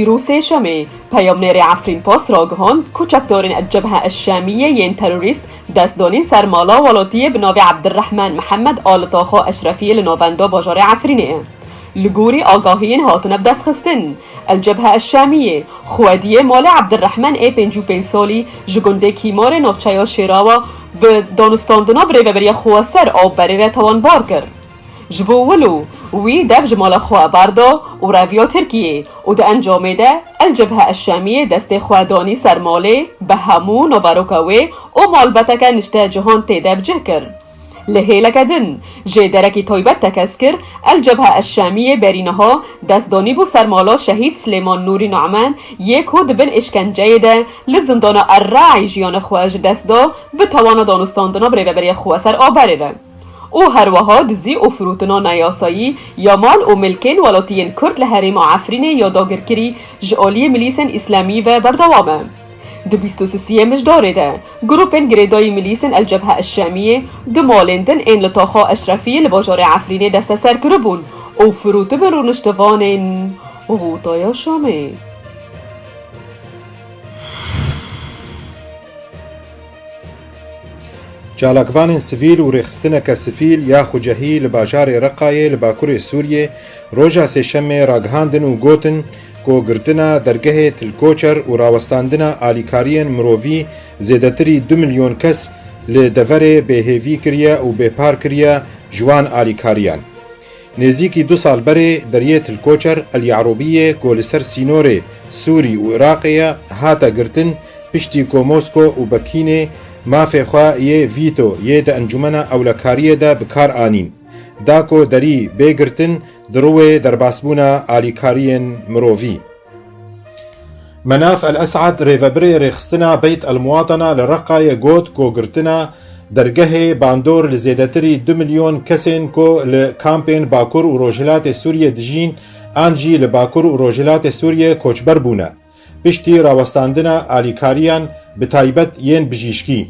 Îro sêşemê, peyamnêrê Efrîn Pas ragihand ku çekdarên El-Cebhe El-Şamîyê yên terorîst dest danîn ser mala welatiyê bi navê Abdirehman Mihemed a li Taxa Eşrefiyê li navenda bajarê Efrînê ye. Li gorî agahiyên hatine bidestxistin, El-Cebhe El-Şamîyê xwediyê malê Abdirehman ê pêncî û pênc salî ji gundê Kîmarê navçeya Şêrawa bi danûstandina bi rêveberiya xweser a berê re tawanbar kir. Ji bo wilo wî dev ji mala xwe bardo û reviya Tirkiyê û di encamê de El Cebhe El Şamiyê destê xwe danî ser malê bi hemû naveroka wê û malbeteke nişte cihan tê de bi cih kir. Li hêleke din jê derekî taybet tekez kir, El Cebhe El Şamiyê berî niha dest danîbû ser mala Şehîd Silêman Nûrî Nu'man yê ku di bin îşkenceyê de li zindana Er Ra'î jiyana xwe ji dest da bi tawana danûstandina bi rêveberiya xweser a berê ve. û herweha dizî û firotina neyasayî ya mal û milkên welatiyên Kurd li herêma Efrînê ya dagirkirî ji aliyê milîsên îslamî ve berdewam e. Di bîst û sisiyê mijdarê de, grûpên girêdayî milîsên El Cebhe El Şamiyê du malên din ên li Taxa Eşrefiyê li bajarê Efrînê desteser kiribûn û firotibûn rûniştivanên Rûdaya Şamê. Çalakvanên sivîl û rêxistineke sivîl ya Xwecehî li bajarê Reqayê li bakurê Sûriyê roja Sêşemê ragihandin û gotin ku girtina dergehê Til Koçer û rawestandina alîkariyên mirovî zêdetirî du milyon kes li deverê bêhêvî kiriye û bêpar kiriye ji wan alîkariyan. Nêzîkî du sal berê deriyê Tilkoçer, El Yarûbî yê ku li ser sînorê Sûrî û Iraqê ye hate girtin piştî ku Mosko û Bekînê mafê xwe yê vîto yê di encûmena ewlekariyê de bi kar anîn da ku derî bê girtin di rûê derbasbûna alîkariyên mirovî. Menaf El Esad rêvebirê rêxistina Beyt El Muwatana li Reqayê got ku girtina dergehê bandor li zêdetirî du milyon kesên ku li kampên Bakur û Rojhilatê Sûriyê dijîn an jî li Bakur û Rojhilatê Sûriyê koçber bûne piştî rawestandina alîkariyan bi taybet yên bijîşkî.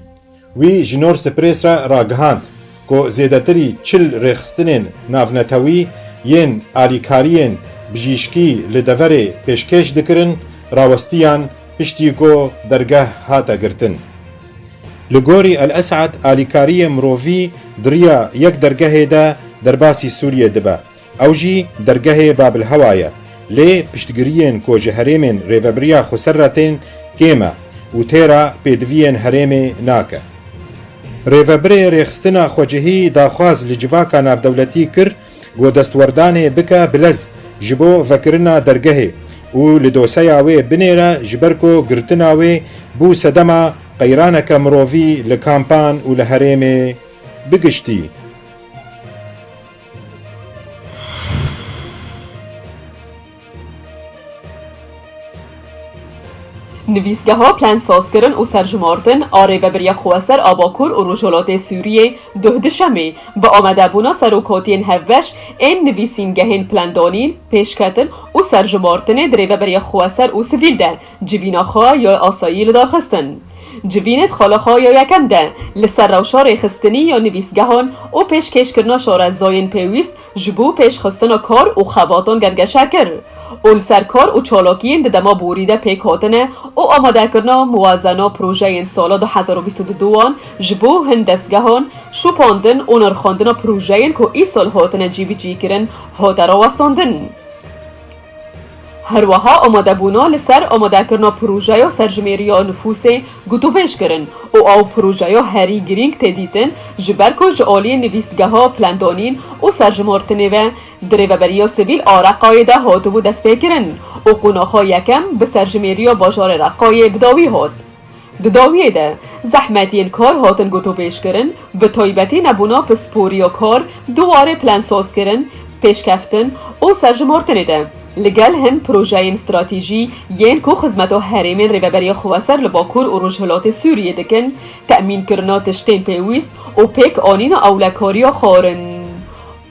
Wî ji Norse Press re ragihand ku zêdetirî çil rêxistinên navnetewî yên alîkariyên bijîşkî li deverê pêşkêş dikirin rawistiyan piştî ku dergeh hate girtin. Li gorî El Esad alîkariyê mirovî di riya yek dergehê de derbasî Sûriyê dibe. Ew jî dergehê Babilhewa ye. Lê piştgiriyên ku ji herêmên Rêvebiriya Xweser re tên kêm e û têra pêdiviyên herêmê nake. Rêvebirê Rêxistina Xwecihî daxwaz li civaka navdewletî kir ku destwerdanê bike bi lez ji bo vekirina dergehê û li doseya wê binêre ji ber ku girtina wê bû sedema qeyraneke mirovî li kampan û li herêmê bi giştî. Nivîsgeha Plan sazkirin û serjimardin a Rêveberiya Xweser a Bakur û Rojhilatê Sûriyê duh di Şemê bi amadebûna serokatiyên hevbeş ên nivîsîngehên plandanîn, pêşketin û serjimardinê di Rêveberiya Xweser û Sivîl de Civîna xwe ya asayî li dar xistin. Civînê di xala xwe ya yekem de li ser rewşa rêxistinî ya nivîsgehan û pêşkêşkirina şarezayên pêwîst ji bo pêşxistina kar û xebatan gemgeşe kir û li ser kar û çalakiyên di dema borî de pêk hatine û amadekirina muwazena projeyên sala du hezar û bîst û du wan ji bo hin dezgehan şopandin û nirxandina projeyên ku îsal hatine cîbicîkirin hate rawestandin. Herweha amadebûna li ser amadekirina projeya serjimêriya nifûsê gotûbêj kirin û ew projeya herî girîng tê dîtin ji ber ku ji aliyê nivîsgeha plandanîn û serjimartinê ve di rêveberiya sivîl a Reqayê de hatibû destpêkirin û qonaxa yekem bi serjimêriya bajarê Reqayê bi dawî hat. Di dawiyê de zehmet yên kar hatin gotûbêjkirin, bi taybetî nebûna pispor ya kar di warê plansazkirin, pêşkeftin û serjimartinê de, li gel hin projeyên stratîjî yên ku xizmeta herêmên Rêveberiya Xweser li Bakur û Rojhilatê Sûriyê dikin, temînkirina tiştên pêwîst û pêkanîna ewlekariya xwarin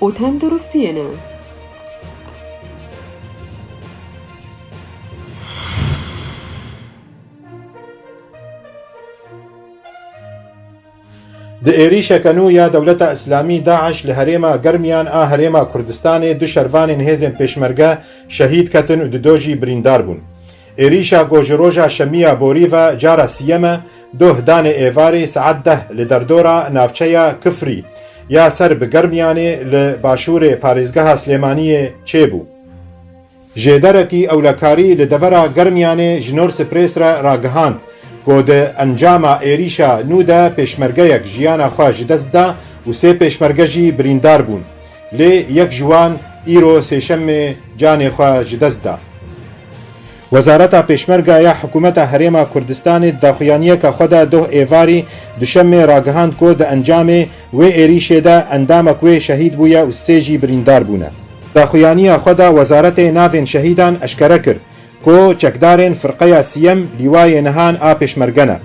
û tenduristiyê ne. Di êrîşeke nû ya Dewleta Îslamî DAIŞ li herêma germiyan a Herêma Kurdistanê du şervanên hêzên pêşmerge şehîd ketin û di do jî birîndar bûn. Êrîşa ku ji roja şemiya borî ve cara sîyem e, doh danê êvarê saet deh li derdora navçeya Kifrî ya ser bi germiyanê li başûrê parêzgeha Silêmaniyê çêbû. Ji derekî ewlekarî li devera Germiyanê ji Norse Press re ragihand ku di encama êrîşa nû de pêşmergeyek jiyana xwe ji dest da û sê pêşmerge jî birîndar bûn. Lê yek ji wan îro sêşemê canê xwe ji dest da. Wezareta Pêşmerga ya Hikûmeta Herêma Kurdistanê di daxuyaniyeke xwe de doh êvarî duşemê ragihand ku di encamê Wê êrîşê de endamek wê şehîd bûye û sê jî birîndar bûne. Daxuyaniya xwe de Wezaretê Navên Şehîdan eşkere kir ku çekdarên Firqeya Sîyem lîwayê nihan a Pêşmerge ne.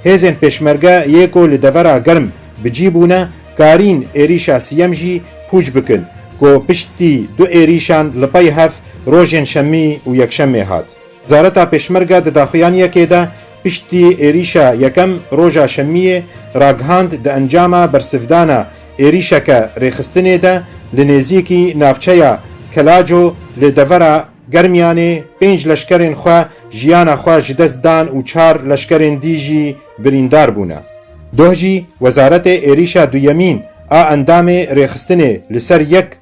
Hêzên Pêşmerge yê ku li devera germ bi cî bûne karîn êrîşa sîyem jî pûç bikin ku piştî du êrîşan li pey hev rojên şemî û yekşemê hat. Wezareta Pêşmerge di daxuyaniyekê de piştî êrîşa yekem roja şemiyê ragihand di encama bersivdana êrîşeke rêxistinê de li nêzîkî navçeya Kelaco li devera Germiyanê pênc leşkerên xwe jiyana xwe ji dest dan û çar leşkerên dî jî birîndar bûne. Doh jî wezaretê êrîşa duyemîn a endamê rêxistinê li ser yek